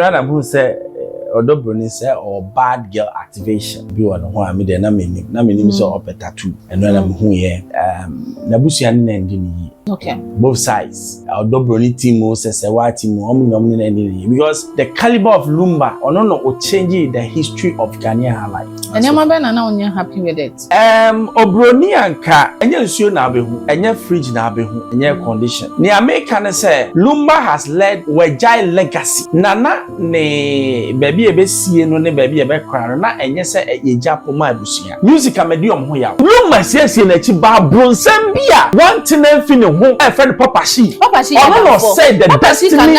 Bere a na mahu sɛ ɔdɔ buroni sɛ ɔwɔ bad girl activation bi wɔ ne ho a, me deɛ na mennim. Na menim sɛ ɔpɛ tattoo. Ɛno na mehuiɛ. Um, n'abusua ne na ndi ne yie. Okay. Both sides. Ɔdɔ buroni team o, sɛsɛwaa team o, wɔn na wɔn ne na ndi ne yie. Because the caliber of Lumba, ɔno na ɔchangee the history of Ghanaian high life. Nneɛma bɛn na na wonyɛ happy with it? Erm obroni anka ɛnyɛ nsuo na abɛhu, ɛnyɛ fridge na abɛhu, ɛnyɛ air condition. Nea meka ne sɛ Lumba has led wagyae legacy. Nana ne baabi a ɛbɛsie no ne baabi a ɛbɛkora no na ɛnyɛ sɛ yɛgya po ma abusua. Music ama di wɔn ho yaw. Lumba siesie n'akyi baa bronsam bi a wantena mfi ne ho a yɛfrɛ no Papa Shi. Ɔno na ɔsɛe the destiny.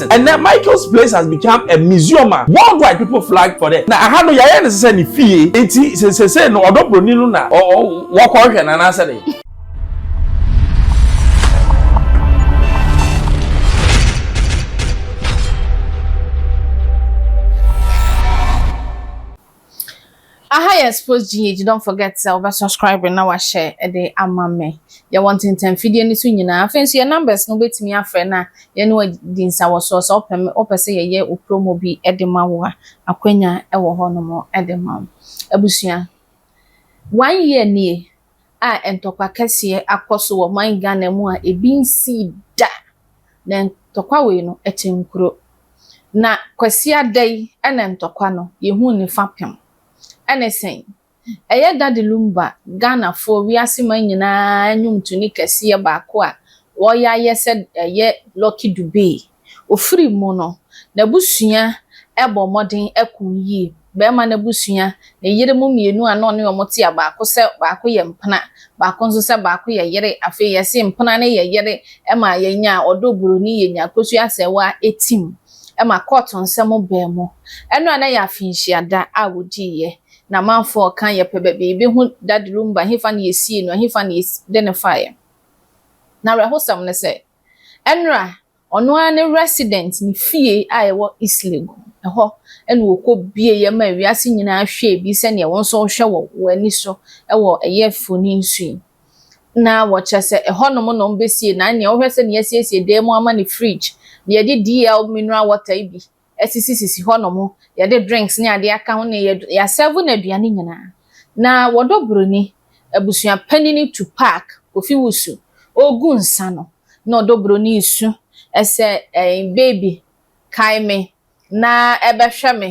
Ɛnnɛ Michael's place has become a museum a worldwide people flag for it. Na aha no yɛayɛ no sɛ ne fie nti sɛ sesei no ɔdɔ broni no na wɔkɔhwɛ no anaasɛ dɛn. Aha yɛ sports GH don't forget sɛ wobɛ subscribe na wahyɛ de ama me. Yɛwɔ ntentan fidie no so nyinaa. Afei nso yɛ numbers no wobɛtumi afrɛ na yɛne wo adi nsawɔsoɔ sɛ wopɛ me wopɛ sɛ yɛyɛ wo promo bi de ma wo a akwanya wɔ hɔnom de ma wo. Abusua one year nie a ntɔkwa kɛseɛ akɔ so wɔ ɔman Ghana mu a ebi nsii da, na ntɔkwa wei no ɛte nkuro. Na Kwasiada yi na ntɔkwa no yɛhuu ne fapem. Ɛne sɛn? Ɛyɛ Daddy Lumba, Ghanafoɔ wiase man nyinaa nnwomtoni kɛseɛ baako a wɔyɛ ayɛ sɛ ɛyɛ Lucky Dube Ofiri mu no, n'abusua bɔ mmɔden ko yie. Barima no abusua, ne yere mu mmienu a na ɔne wɔn te a baako sɛ baako yɛ mpena, baako nso sɛ baako yɛ yere. Afei yɛse mpena no yɛ yere ma yɛnya ɔdɔ buroni, yɛnya Kosua Asɛɛwa tim ma kɔɔto nsɛm baa mu. Ɛno a na ɛyɛ afenhyia da a wɔdiiɛ. Na amanfoɔ reka yɛpɛ baabi yɛbɛhu Daddy Rhumba, ɛhefa na yɛsiee no, ɛhefa na yɛde no faeɛ. Na awerɛhosɛm ne sɛ, Ɛnora, ɔno ara ne resident, ne fie a ɛwɔ Islegu, ɛhɔ na ɔkɔ bieɛ maa wiase nyinaa hwɛɛ bi sɛdeɛ wo nso wohwɛ wɔ w'ani so wɔ ɛyɛ fonin so yi. Na wɔkyerɛ sɛ ɛhɔ nom na wɔbɛsie, na ɛneɛ wohwɛ sɛdeɛ yɛasiesie dan mu ama no fridge, deɛ yɛde DL mineral water yi bi, asisi sisi hɔ nom yɛde drinks ne adeɛ aka ho ne yɛ asɛvo no aduane nyinaa na wɔdɔ broni abusua panini tu park kofi wusu ɔgu nsa no na ɔdɔ broni su ɛsɛ ɛɛ baby kae me na ɛbɛhwɛ me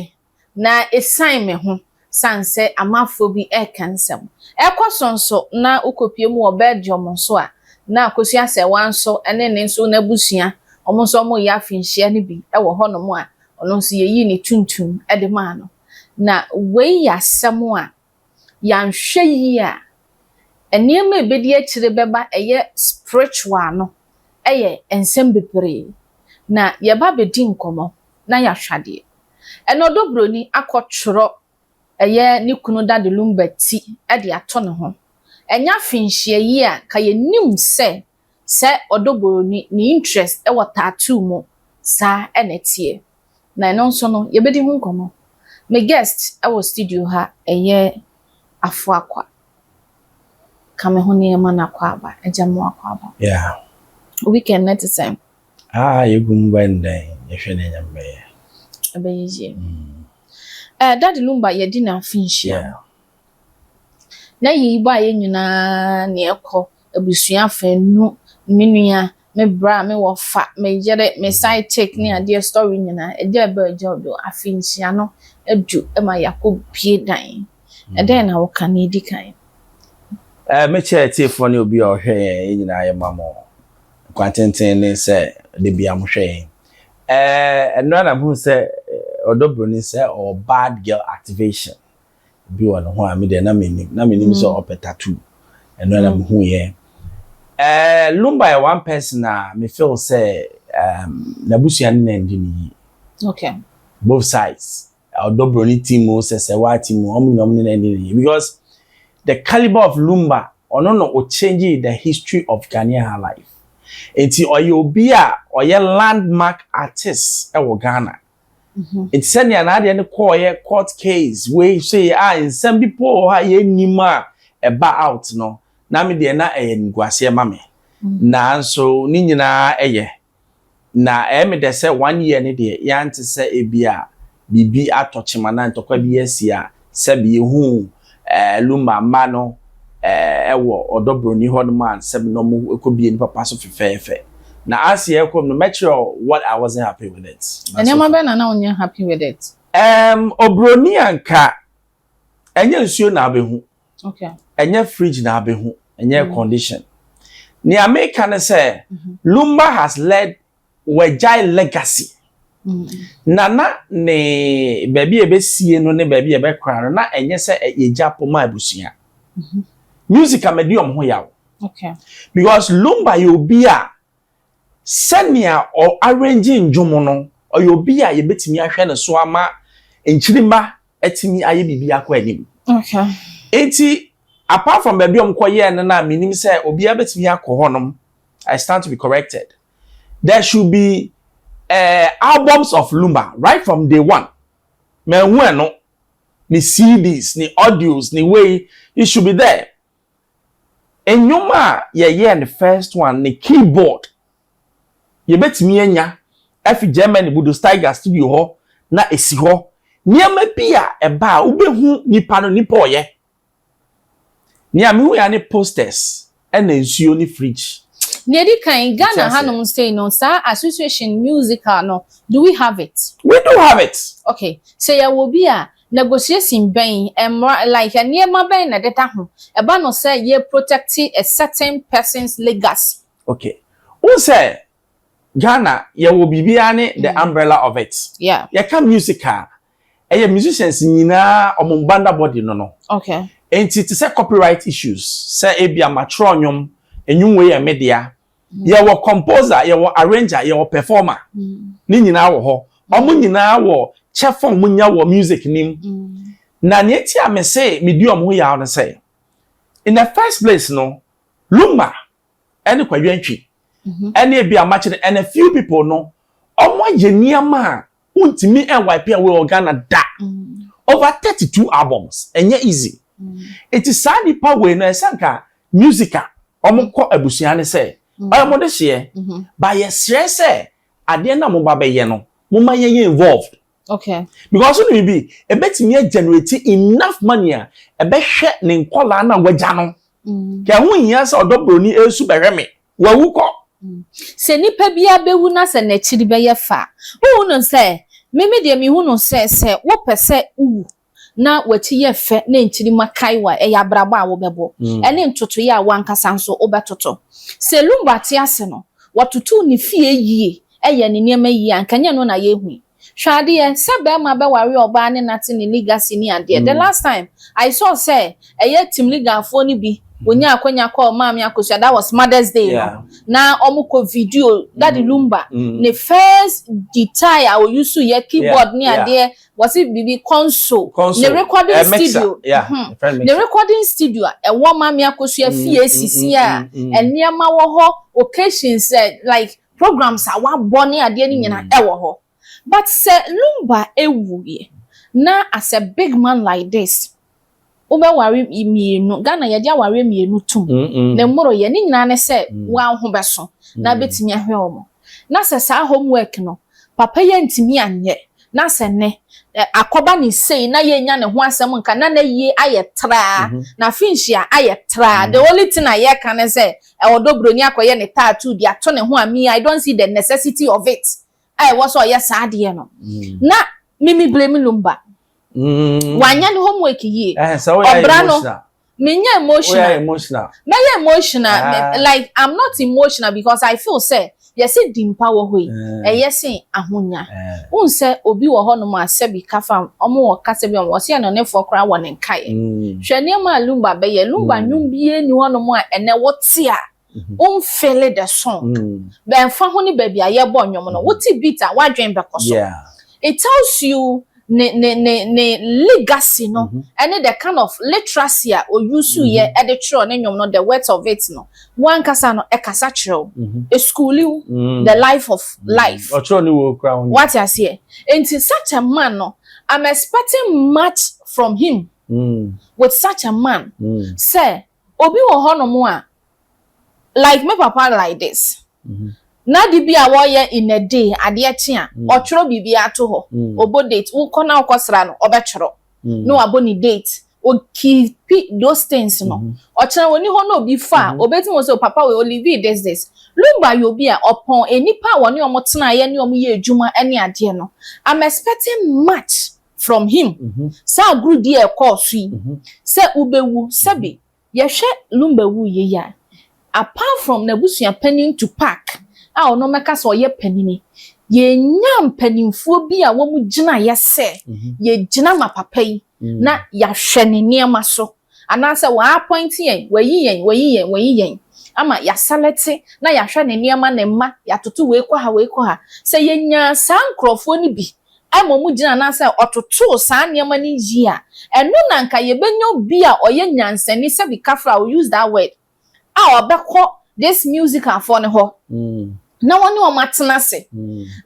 na ɛsan me ho San sɛ amafoɔ bi reka nsɛm. Ɛkɔ so nso na wokɔpue mu wɔ Belgium nso a, na Akosua Asɛwaa nso ne ne nso n'abusua, wɔn nso wɔreyɛ afinhyia no bi wɔ hɔnom a, ɔno nso yɛyii ne tuntum de maa no. Na wei yɛ asɛm a, yɛanhwɛ yie a, nneɛma a ɛbɛdi akyire bɛba ɛyɛ spiritual no yɛ nsɛm bebree. Na yɛba bɛdi nkɔmmɔ. na yɛahwa deɛ. Ɛna ɔdɔ broni akɔ twerɔ ɛyɛ ne kunu dade lumba ti de ato ne ho. Ɛnya finhyia yi a nka yɛ nim sɛ sɛ ɔdɔ boroni ne interest wɔ tattoo mu saa ɛna ɛteɛ. Na ɛno nso no yɛ bɛdi ho nkɔmɔ. Me guest ɛwɔ studio ha ɛyɛ Afo Akwa. Ka me ho nneɛma no Akwaaba, Agyamo Akwaaba. Yeah. Wo weekend no te sɛn? A a yegu mu bɛn dɛn yɛhwɛ nea Nyame bɛyɛ. Ɛbɛyɛ yie. Eh daddy Lumba yɛdi no afe nhyia mu. Na yei bɔ a yɛ nyinaa ne ɛkɔ abusua afɛ nu me nua me bra me wɔfa me yere me side chick ne adeɛ story nyinaa ɛgya ɛbɛ ɛgya ɔbɛ o afe nhyia no adu ɛma yɛakɔ bue dan ɛdɛn na wo ka nea ɛdi kan. Eh me kyɛ atiefoɔ ne obi a ɔhwɛ yɛn yɛ nyinaa yɛ ma mo. Kwa tenten ne sɛ da biara mohwɛ yɛn. Ɛɛ ɛno ara na mehunu sɛ ɔdɔ buroni sɛ ɔwɔ bad girl activation bi wɔ ne ho a me deɛ na menim na menim sɛ ɔpɛ tattoo ɛno ara na mehu yɛ. Ɛɛ Lumba yɛ one person a me feel sɛ um, n'abusua ne na ndi ne yie. Okay. Both sides. Ɔdɔ broni team o sɛ sɛ waa team o ɔmo nyina ɔmo ne no ɛne yie because the calibre of lumba ɔno na o changee the history of Ghanaian high life nti ɔyɛ obi a ɔyɛ land mark artist ɛwɔ Ghana nti sɛnea n'adeɛ no kɔɔyɛ court case wei sei a nsɛm bi po wɔ hɔ a yɛn nim a ɛba out no na me deɛ na ɛyɛ animguaseɛ ma me nanso ne nyinaa ɛyɛ Na ɛyɛ me dɛ sɛ one year no deɛ yɛante sɛ ebia biribi atɔ kyem anaa ntɔkwa bi asi a sɛbe yɛhuu ɛɛ Lumba mma no ɛɛ ɛwɔ ɔdɔ broni hɔ nom a sɛbe na ɔmo ɛkɔbie ne papa so fefɛɛfɛ. Na as yɛɛkɔ mu no mɛkyerɛ wo what I wasn't happy with it but so Nneɛma far. bɛn na na wonyɛ happy with it? Ɛɛm obroni a nka ɛnyɛ nsuo na abɛhu ɛnyɛ fridge na abɛhu ɛnyɛ mm. condition nea meka ne sɛ mm-hmm. lumba has led wɔagyae legacy mm. na na ne baabi a ɛbɛsie no ne baabi a ɛbɛkora no na ɛnyɛ sɛ yɛgya po ma abusua mm-hmm. music a madi ɔm ho yaw because lumba yɛ obi a Sɛnea ɔ arrange nnwom no, ɔyɛ obi a yɛbɛtumi ahwɛ ne so ama Nkyirimma atumi ayɛ biribi akɔ anim. Okay. Nti apart from baabi a wɔkɔyɛɛ no no a mennim sɛ obiara bɛtumi akɔ hɔnom, I stand to be corrected, there should be eh, albums of Lumba right from day one. Manhu ɛno, ne CDs, ne audios, ne wei, it should be there. Nnwom a yɛyɛɛ no first one no keyboard yɛbɛtumi anya afi Germany Bodo Steiger studio hɔ na ɛsi hɔ. Nneɛma bi a ɛba a wobɛhu nipa no nipa a ɔyɛ. Nea mehu ya ne posters ɛna nsuo ne fridge. Nea ɛdi kan, Ghana hanom sei no saa association musical no do we have it? We do have it. Okay, sɛ yɛwɔ bi a Negotiation bɛn, mmra like nneɛma bɛn na ɛdeda ho ɛba no sɛ yɛ protect a certain person's legacy? Okay, wohu sɛ Ghana yɛwɔ biribiara ne the umbrella of it. Yeah. Yɛka music a, ɛyɛ musicians nyinaa wɔn banda body no no. Okay. Enti te sɛ copyright issues, sɛ ebia matwerɛ nnwom, nnwom wei yɛ me dea, yɛwɔ composer yɛwɔ arranger yɛwɔ performer ne nyinaa wɔ hɔ wɔn nyinaa wɔ kyɛfa wɔn nya wɔ music nim na nea eti a me se me di wɔn ho yaw no sɛ in the first place no lumba ɛne kwadwantwi ɛne ebi amakyere and a few people no wɔn ayɛ nneɛma a Wontumi wipe away wɔ Ghana da. Over thirty two albums, ɛnyɛ easy. Nti saa nipa wei no ɛsɛ nka music a wɔn kɔ abusua ne sɛ ɔyɛ wɔn de hyeɛ. Ba yɛsrɛ sɛ adeɛ na wɔn ba bɛyɛ no wɔn ma yɛyɛ involved. Okay. Because ɔno bibi ɛbɛtumi agenerate enough money a ɛbɛhwɛ ne nkɔlaa na wagya no. Kɛ ɛho nhia sɛ ɔdɔ broni ɛsu bɛhwɛ me. Wawu kɔ. Sɛ nnipa biara bɛwu na sɛ n'akyiri bɛyɛ fɛ a, wohu no sɛ, me me deɛ mehu no sɛ, sɛ wopɛ sɛ wowu na w'akyi yɛ fɛ na nkyirimma kae wo a, ɛyɛ abrabɔ a wobɛbɔ, ɛne ntotoeɛ a w'ankasa nso wobɛtoto. Sɛ Lumba te ase no, watoto ne fie yie, yɛ ne nneɛma yie a, anka ɛnyɛ ɛno na yɛrehu yi. Hwɛ adeɛ sɛ bɛɛma bɛware ɔbaa ne nate ne nigga si ne adeɛ the last time I saw sɛ ɛyɛ timligafoɔ no bi wɔnyaa akwanya kɔɔ maame akosua that was mother's day no na wɔn kɔ video daddy lumba ne first guitar a ɔyusu yɛ keyboard ne adeɛ wɔse biribi console ne recording studio hmm ne recording studio a ɛwɔ maame akosua fie sisi a nneɛma wɔ hɔ occasions like Programs a wabɔ ne adeɛ no nyinaa ɛwɔ hɔ but sɛ Lumba ɛwuiɛ na as a big man like this wobɛware mmienu Ghana yɛde awareɛ mmienu tom ne mmoroyɛ ne nyinaa ne sɛ waho bɛso na abɛtumi ahwɛ wɔn na sɛ saa home work no papa yi antumi anyɛ na sɛ nnɛ akɔba no sei na yɛnya ne ho asɛm nka na n'ayie ayɛ traa mhm. na finhyia ayɛ traa the mhm. only thing a yɛka ne sɛ ɛwɔ dɔ buroni akɔyɛ ne tattoo de ato ne ho a me I don't see the necessity of it a ɛwɔ sɛ ɔyɛ saa adeɛ no mhm. na mimi blame lumba wanyɛ ne homework yie ɔbra no menyɛ emotional woyɛ emotional mɛyɛ emotional ah. like i'm not emotional because i feel sɛ yɛsɛ di mpa wɔ hɔ yi eh. ɛyɛ se ahonya eh. wohu sɛ obi wɔ hɔ nom a sɛbi kafa ɔmo wɔ kasa bi a wɔsɛ yɛ no nefoɔ koraa wɔ ne nkaeɛ mm. hwɛ nneɛma a lumba bɛyɛ lumba mm. nnwom bie ni hɔ nom a ɛnɛ wote a wo mfeele the song bɛmfa ho ne baabi a yɛbɔ nnwom no wote beat a w'adwene bɛkɔ so it tells you ne ne ne ne legacy no ɛne the kind of literacy a o use yɛ ɛde twerɛ ne nnwom no the words of it no wankasa no ɛkasa kyerɛ wo ɛschooli wo the life of life ɔtwerɛ ne wɔ kura wo wate aseɛ nti such a man no I'm expecting much from him with such a man sɛ Obi wɔ hɔnom a like me papa like this na ade bi a wɔyɛ in a day adeɛ kye a ɔtwerɛ biribi ara to hɔ, ɔbɔ date, wokɔ na wokɔ sra no ɔbɛtwerɛ na wabɔ ne date, ɔ keepi those things no, ɔkyena ɔnni hɔ na obi fa a ɔbɛtumi hu sɛ o papa wei ɔlivii this this. Lumba yɛ obi a ɔpɔn nnipa a wɔne wɔn tenaeɛ ne wɔn yɛɛ adwuma ne adeɛ no, I'm expecting much. from him saa agorudi a ɛkɔɔ so yi sɛ wobɛwu sɛbi yɛhwɛ Lumba wuiɛ yi a apart from n'abusua panin Tupac a ɔno mɛka sɛ ɔyɛ panini yɛnyaa mpaninfoɔ bi a wɔn gyinaeɛ sɛ yɛgyina ma papa yi na yɛahwɛ ne nneɛma so. Anaasɛ wɔaapɔinte yɛn, wɔayi yɛn, wɔayi yɛn, wɔayi yɛn, ama yɛaselɛte na yɛahwɛ ne nneɛma, ne mma, yɛatoto wei kɔ ha, wei kɔ ha. Sɛ yenyaa saa nkurɔfoɔ no bi a mmom gyina anaasɛ ɔtotoo saa nneɛma no yie a, ɛno na anka yɛbɛnya obi a ɔyɛ nyansani, sɛbi kafra, I will use that word, a ɔbɛkɔ these musicalfoɔ no hɔ na ɔne wɔn atena ase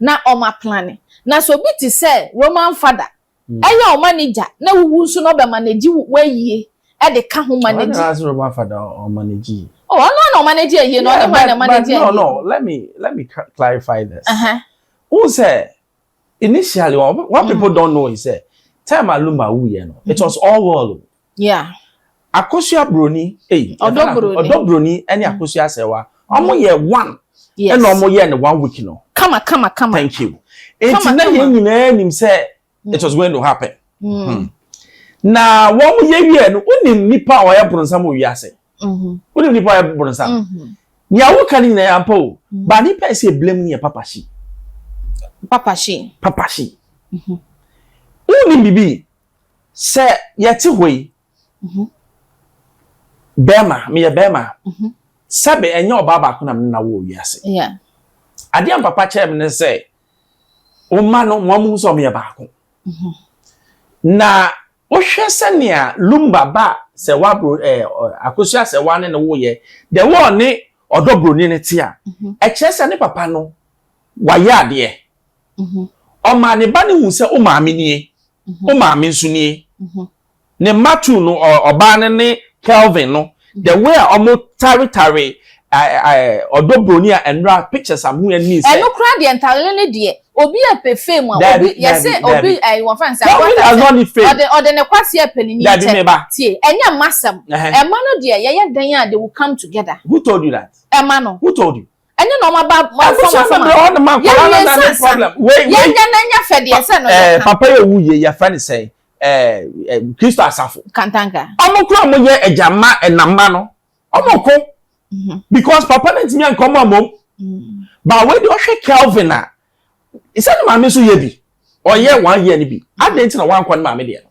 na wɔaplane. Na sɛ obi te sɛ Roman Father Ɛyɛ ɔma ne gya na wuwu nso na ɔbɛ manage w'ayie de ka ho manage. Ɔno ase ɔma fa da ɔmanage yi. Oh ɔno ana ɔmanage ayie no ɔne hwan na ɔmanage ayie. No no let me let me clarify this. Uh -huh. Who sɛ initially what people don't know is sɛ time Aluma wuyɛ no it was all world. Yeah. Akosua broni, ei, ɔdɔ broni, ɔdɔ broni ɛne akosua asɛwa, ɔmo yɛ one, ɛna ɔmo yɛ ne one week no. Kama kama kama. Thank you. Eti na yɛn nyinaa nim sɛ it was going to happen. Hmm. Na wɔn mo yɛ wie no, wonim nipa a ɔyɛ bronsam wɔ wiase. Mhm. Wonim nipa a ɔyɛ bronsam. Mhm. Nea woka no nyinaa yɛ ampa o. Mhm. Ba nipa a ɛsɛ eblem no yɛ papa shi. Papa shi. Papa shi. Mhm. Wonim bibi. Sɛ yɛte hɔ yi, mhm. bɛrima, meyɛ bɛrima, mhm. sɛbe ɛnyɛ ɔbaa baako na mene na wɔ wiase. Adeɛ a mpapa kyerɛ me ne sɛ, wo mma no, mo amu sɛ ɔmeyɛ baako. Mhm. Na wohwɛ sɛnea lumba ba sɛ wabro ɛɛ akosua sɛ wane ne woyɛ, de wɔne ɔdɔ broni no te a, ɛkyerɛ sɛ ne papa no wayɛ adeɛ. Ɔmaa ne ba no hu sɛ wo maame nie, wo maame nso nie. Ne mma two no, ɔbaa no ne Kelvin no, the way a ɔmo taretare ɔdɔ broni a ɛnora pictures a muhu ɛni sɛ. Ɛno koraa deɛ ntarere no deɛ obi a pɛ fame a obi yɛsɛ obi ɛyi wɔn fɛn sɛ ɔde ɔde ne kwasi ɛpɛ ne ni kyɛ tie ɛnyɛ mma sɛm ɛma no deɛ yɛyɛ dan a they will come together. Who told you that? Ɛma no. Who told you? ɛne na ɔma ba ma fam afam yɛnyɛ nsansa yɛnyɛ na nyɛ fɛ deɛ sɛ no yɛ eh, papa yɛ wu yɛ yɛfrɛ ne sɛ eh, eh, kristo asafo kantanka ɔmo kura mo yɛ agya mma ɛnamma no ɔmo ko mhm. because papa no ntumi ankɔ ɔmo amom mhm. ba wei de ɔhwɛ kelvin a sɛ ne maame nso yɛ bi ɔyɛ one year no bi adɛn nti na wankɔ ne maame deɛ no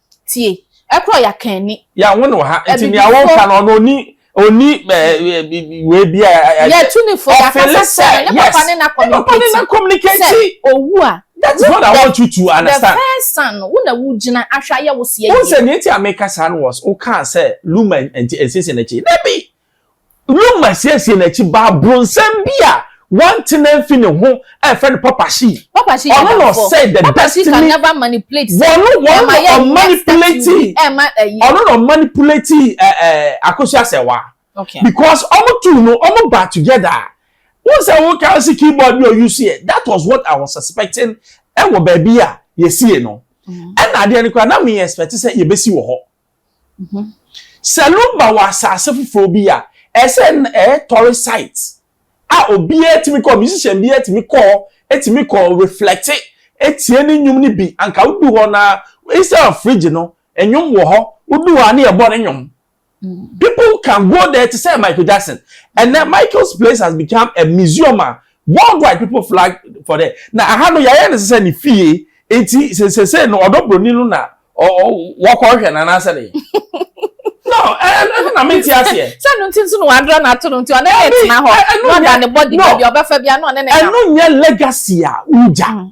Tie. Ɛkorɔ ya kan ni. Ya wo ne wɔ ha nti nea wo ka no ɔno oni oni wei bi a. Yɛ tu ne fo ya kasa sɛ ne papa ne na communicate sɛ owu a. That is what I want you to understand. The first son no wo na wo gyina ahwɛ ayɛ wo seɛ yie. Wo sɛ nea ti a meka saa no was wo kaa sɛ Luma nti nsiesie n'akyi dabi. Luma siesiee n'akyi baa bronsam bi a wantena mfi ne ho a yɛfrɛ no Papa Shi. Papa Shi yɛ Ɔno na adamfo. ɔsɛe the Papa Shi can destiny. never manipulate Wɔn no wɔn ɛma na yɛ next ɔmanipulate to be ɛma ɛyi. ɔno na ɔmanipulate ɛ ɛ Akosua Asɛwa Okay. because wɔn two no wɔn ba together a wɔn sɛ wɔn kan si keyboard bi a ɔuse yɛ that was what I was suspecting ɛwɔ baabi a yɛsie no ɛna adeɛ no koraa na me expect sɛ yɛbɛsi wɔ hɔ Sɛ Lumba wɔ asase foforɔ bi a, ɛyɛ sɛ na ɛyɛ tɔre site a obiara tumi kɔ, musician biara tumi kɔ, tumi kɔ reflect, tie ne nnwom no bi. Anka wodu hɔ no ara, instead of fridge no, nnwom wɔ hɔ, wodu hɔ a ne yɛbɔ ne nnwom. People can go there te sɛ Michael Jackson. Ɛnnɛ, Michael's place has become a museum a Worldwide people flag for the na aha no yɛayɛ no sɛ ne fie nti sesese no ɔdɔ broni no na wɔkɔ hwɛ no anaasɛ ne no ɛno na mente aseɛ sɛ no nti nso na wadra no ato no nti ɔne ne tena hɔ na ɔda ne bɔde baabi ɔbɛfa bia na ɔne ne ɛno nyɛ legacy a wogya mm.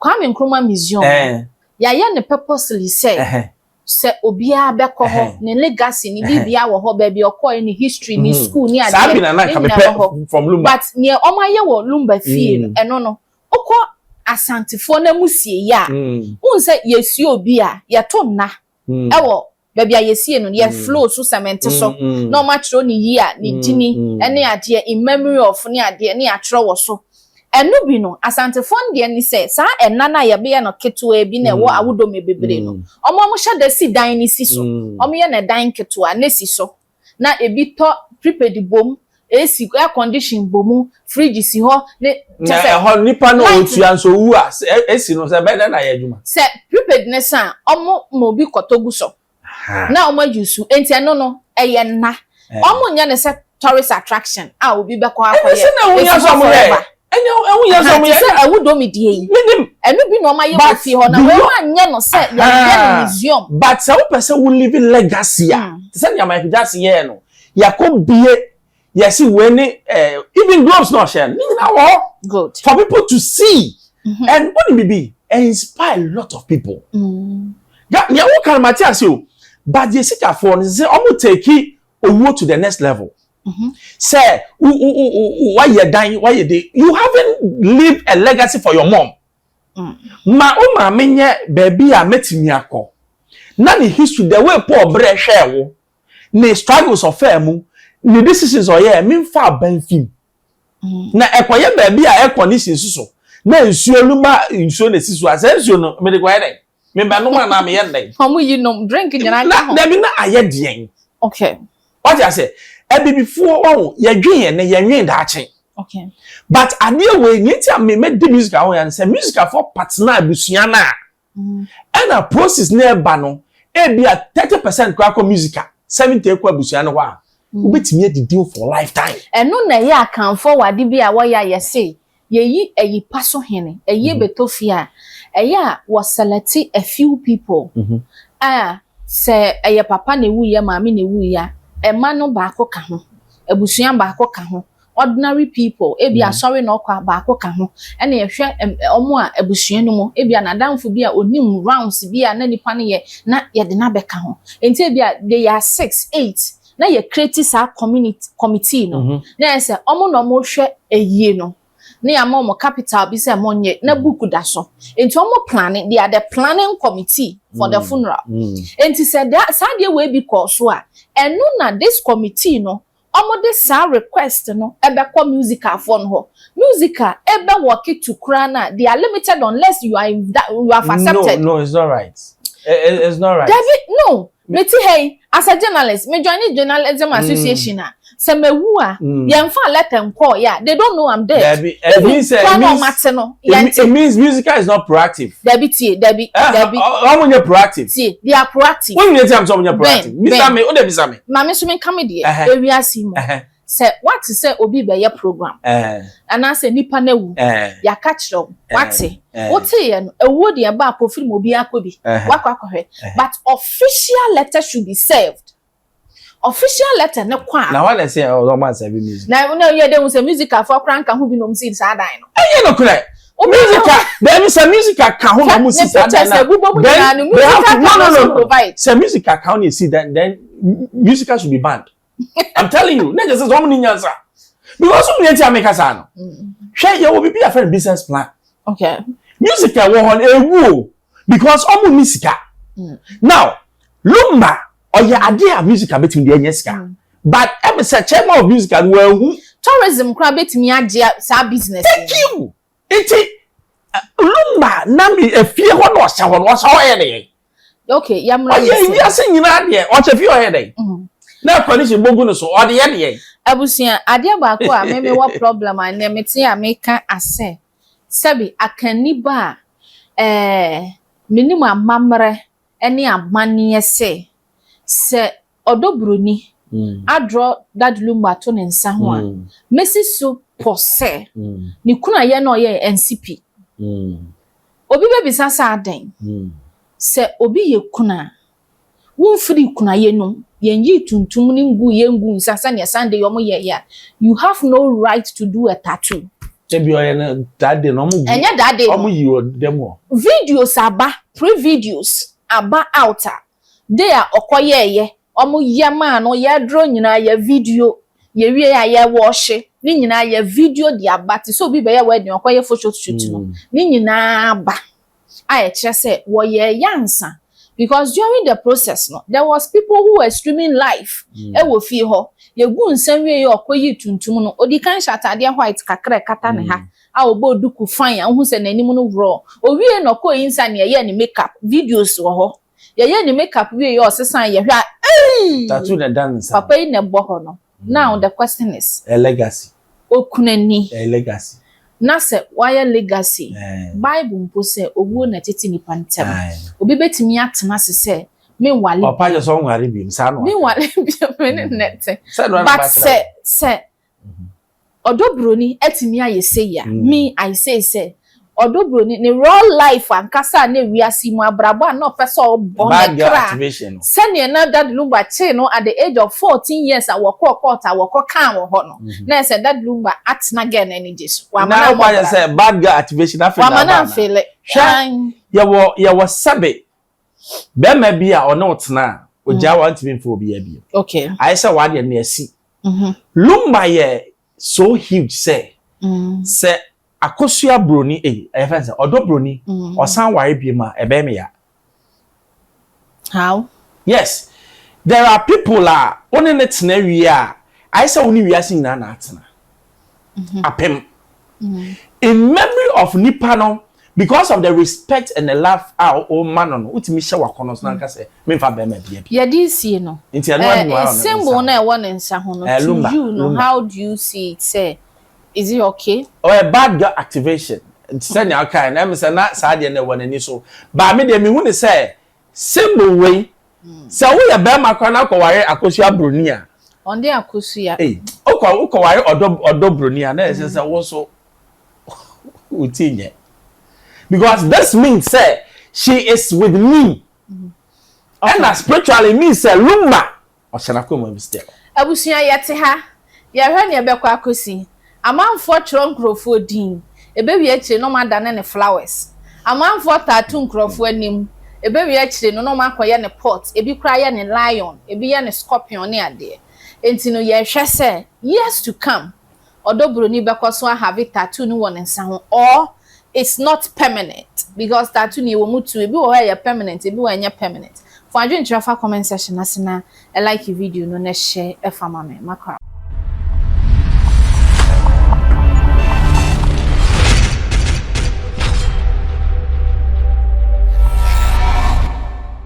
Kwame Nkrumah Museum no, yɛayɛ no purposely sɛ, sɛ obiara bɛkɔ hɔ, ne legacy, ne biribiara wɔ hɔ, baabi a ɔkɔe, ne history, ne school, ne adeɛ, ne nyinaa wɔ hɔ. But nea wɔayɛ wɔ Lumba fie no, ɛno no, wokɔ Asantefoɔ no amusieeɛ a, wohu sɛ yɛsua obi a, yɛto nna wɔ baabi a yɛsiee no no yɛ floor so sɛmɛnte so na ɔmo atwerɛ ne year ne dini ne adeɛ in memory of ne adeɛ ne atwerɛ wɔ so ɛno bi no Asantefoɔ no deɛ ne sɛ saa ɛna no a yɛbeyɛ no ketewaa bi na ɛwɔ Awodome Bebree no ɔmo ɔmo hyɛ da si dan no si so ɔmo yɛ no ɛdan ketewaa na esi so. na ebi tɔ prepaid bom, AC air condition bom, fridge si hɔ ne kyɛ sɛ. Na ɛhɔ nipa na ɔtua nso wu a AC no sɛ ɛbɛyɛ dɛn na ayɛ adwuma. Sɛ prepaid no sa a wɔn ma obi kɔtɔ gu so na wɔn ayi su enti ɛno no ɛyɛ nna wɔn nyɛ no sɛ tourist attraction a obi bɛkɔ akɔyɛ. Ɛno nso na ɛho hia sɛ wɔyɛ. ɛnyɛ ɛho yɛ sɛ ɔmo yɛ. te sɛ ɛwo dɔmi die yi. minim. ɛno bi na ɔmo ayɛ wɔ fie hɔ na wɔn anyɛ no sɛ yɛyɛ no museum. but sɛ wopɛ sɛ wo live legacy a hmm. te sɛ nea Michael Jackson yɛɛ no yɛkɔ bie yɛsi wei ne eh, even gloves na ɔhyɛ no ne nyinaa wɔ hɔ. good for people to see. Mm -hmm. and wɔn ni bibi inspire a lot of people. Mm. ya nea wɔn kan ma te ase o but yɛ sikafoɔ no sɛ wɔn teki owuo to the next level. Mm-hmm. Sir, why you dying? Why you dey? You haven't leave a legacy for your mom. Mm. Ma o ma me nye baby a metimi akọ. Na ne history the way Paul bre hwe wo. Ne struggles of mu. Ne decisions o ye me fa ban fim. Mm. Na ekoye baby a ekọ ne sinsu so. Na nsuo no ma nsuo na sisi so. Asa nsuo no me de kwaye dey. Me ba nom anaa me yɛ nnɛn. Ɔmo yi nom drink nyinaa ka ho. Dabi na ayɛ deɛn. Okay. Wate aseɛ abibifoɔ wahu yɛdwen yɛn ne yɛnwen daakye. Okay. But adeɛ wei nea ti a me mɛ di music aho yɛn sɛ music afɔ patena abusua na. Mm. Ɛna process na ɛba no ebi a thirty percent kɔ akɔ music a seventy ekɔ abusua no hɔ a. Mm. Wobɛtumi adidi for lifetime. Ɛno na ɛyɛ akanfoɔ wɔ ade bi a wɔyɛ a yɛse Yɛyi ayi pa so hene, ayie bɛtɔ fie a, ɛyɛ a wɔ selɛte a few people a sɛ ɛyɛ papa na ɛwuiɛ, maame na ɛwuiɛ a, mma no baako ka ho, abusua baako ka ho, ordinary people, ɛbi a asɔre na ɔkɔ a baako ka ho, ɛna yɛhwɛ wɔn a abusua no mu, ɛbi a n'adamfo bi a ɔnim rounds bi a na nipa no yɛ na yɛde no abɛka ho, nti ɛbi a they are six, eight, na yɛ create saa community committee no na yɛ sɛ ɔmo na ɔmo hwɛ ayie no na yɛ ama ɔmo capital bi sɛ ɔmo nyɛ na book da so nti ɔmo plane they are the planning committee for the funeral nti sɛ da saa deɛ wei bi kɔɔ so a ɛno na this committee no ɔmo de saa request no ɛbɛ kɔ musical foɔ no hɔ musical ɛbɛ work to koraa no a they are limited unless you are in that you have accepted no no it's not right it's not right dabi no. Mete ha yi as a journalist, me joine journalism association a, sɛ mawu a, yɛnfaa letter nkɔɔ yɛ a, they don't know I'm dead. Dabi, it means sɛ, it means, it, it means musical is not proactive. Dabi tie, dabi, eh, dabi. Ɔmo nyɛ proactive. Tie, they are proactive. Wọ́n nyina ti am sɛ ɔmo nyɛ proactive. Bisa mi, o de bisa mi. Maame nso mi nka mi deɛ, ewiase mu. Sɛ woate sɛ obi rebɛyɛ program anaasɛ nipa no awu, yɛaka kyerɛ wo, woate? Woteeɛ no, awuo deɛ ɛba a pofiri mu obiara kɔ bi, woakɔ akɔhwɛ, but official letter should be served. Official letter no kɔ a. Na hwan na ɛsɛ sɛ wɔma asɛbi music? Na na yɛ dɛ hu sɛ musicalfoɔ koraa nka ho bi na wɔn si saa dan no. Ɛnyɛ nokorɛ. Musical daabi sɛ musical ka ho na wɔn si saa dan no a. Ne pictures a ɛbobɔ mu nyinaa no musical ka ho na wɔn provide. Sɛ musical ka ho na esi dan then musical should be banned. i'm telling you na just sɛ wɔn ni nyansa because wɔn yɛn ti a meka saa no hwɛ yɛ wɔ bibi afɛn business plan okay music a wɔ hɔn ewu o because wɔn ni sika mm. now lumba ɔyɛ adeɛ a music a betumi de ɛnyɛ sika mm. but ɛmi sɛ chairman of music a wɔn ehu tourism kura betumi agye saa business. thank you nti lumba na mi efie hɔ na ɔhyɛ hɔ na ɔhyɛ hɔ yɛ ne yɛ. okay yɛ mmra ne sɛ ɔyɛ wiase nyinaa deɛ ɔkyɛ fie ɔyɛ dɛn mhm. na coalition bogu no so ɔde yɛ deɛ abusua adeɛ baako a meme wɔ problem a nneɛ mete a meka asɛ sɛbi akanni ba a ɛɛ menim amammerɛ ne amanneɛ sɛ sɛ Ɔdɔ Buroni, Adrɔ Dadlumba to ne nsa ho a, mesi so pɔ sɛ ne kunu a yɛne no yɛ ansi pi. Obi bɛbisa sɛ adɛn? Sɛ obi yɛ kunu a, womfirii kunayɛ nom, yɛnyii tuntum no nguu yɛn nguu nsa sɛdeɛ Sunday yi wɔn yɛeɛ a, you have no right to do a tattoo. Dabi ɔyɛ no that day no wɔn gu, ɛnyɛ that day no, wɔn yii wɔ dɛm hɔ. Videos aba, pre-videos aba out a, Day a ɔkɔ yɛɛ yɛ ɔmo yɛ maa no yɛ aduro nyinaa yɛ video yɛ wie a yɛ wɔɔhye ne nyinaa yɛ video de aba te sɛ obi bɛyɛ wedding ɔkɔ yɛ photo shoot no ne nyinaa aba a ɛkyerɛ sɛ wɔ yɛ yɛ ansa because during the process no there was people who were streaming live ɛwɔ mm. fie hɔ yɛ gu nsa wie yɛ ɔkɔ yi tuntum no odikan hyɛ ataadeɛ white kakra ɛkata ne ha. Mm. a ɔbɔɔ duku fine a wohu sɛ n'anim no worɔɔ. Owiei na ɔkɔɔ Insa ne yɛyɛɛ ne make up. Videos wɔ hɔ. Yɛyɛɛ ne make up wieeɛ a ɔsesaeɛ yɛhwɛ a eii! Tattoo na ɛda ne nsa no. Papa yi na ɛbɔ hɔ no. Now the question is. Ɛyɛ legacy. Okunani. Ɛyɛ legacy. Na sɛ wayɛ legacy. Bible mpo sɛ owuo na ɛtete nnipa ntam. Obi bɛtumi atena ase sɛ menwale bio. Papa kyerɛ sɛ ɔnware bio, saa na waka. Menwale bio, me ne nnɛ te. Sɛn na ɔyɛ na ɔbaa kyerɛ wo? But sɛ, sɛ. Ɔdɔ broni atumi ayɛ sei a, me I say sɛ, ɔdɔ broni ne raw life ankasa a na wiase mu abrabɔ a na ɔpɛ sɛ ɔbɔ ne kra sɛdeɛ na Daddy Lumba kyee no at the age of fourteen years a wɔkɔɔ court a wɔkɔ kaa wɔ hɔ no, na ayɛ sɛ Daddy Lumba atena girl no anigye so, wamma no ammɔ bra, wamma no amfeele, aane. Hwɛ, yɛwɔ sɛbe, barima bi a ɔne wo tenaa, ɔgyae wo a, ɔntumi mfeele obiara bio, ayɛ sɛ w'adeɛ no asi, Mm-hmm. Lumba yɛ so huge sɛ mm. sɛ akosua broni eyi eh, ɛyɛ fɛn sɛ ɔdɔ broni mm. ɔsan ware bie ma ɛbɛn mi ya. How? Yes, there are people a wɔne ne tena wie a ayɛ sɛ wɔne wiase nyinaa na atena. mhm. apem mhm. in memory of nipa no because of the respect and the love a o ma no no o ti mi hyɛ wakɔ no so na nka sɛ mi nfa bɛrima bia bi. yɛde nsie no nti ɛnu adi wa ɔno symbol na ɛwɔ ne nsa ho no eh, to you no how do you see it sɛ is it okay. ɔyɛ oh, eh, bad girl activation sɛnea ɔka yɛ na ɛmu sɛ na saa deɛ na ɛwɔ n'ani so baami deɛ mi hu ni sɛ. Symbol wei sɛ woyɛ bɛɛma koraa na akɔware akosua broni a. Ɔde akosua. Ei okɔ wokɔware ɔdɔ ɔdɔ broni a na yɛ sɛ sɛ wo nso wo ti nyɛ because this means sɛ she is with me ɛna spiritually means sɛ lumba Ɔhyɛ n'akoma mu bi still. Abusua yɛte ha yɛhwɛ nea ɛbɛkɔ akosi amanfoɔ twerɛ nkurɔfoɔ din ɛbɛwie akyire no ɔmo adane no flowers amanfoɔ taa to nkurɔfoɔ anim ɛbɛwie akyire no na ɔmo akɔyɛ no pot ɛbi koraa yɛ no lion ɛbi yɛ no scorpion ne adeɛ ɛnti no yɛhwɛ sɛ years to come ɔdɔ broni bɛkɔ so ahave tattoo no wɔ ne nsa ho or it's not permanent because tattoo no yɛwɔ mu two ebi wɔ hɔ a ɛyɛ permanent ebi wɔ hɔ a ɛnyɛ permanent fa adwenkyerɛ fa comment section no ase na like video no na share fa ma me ma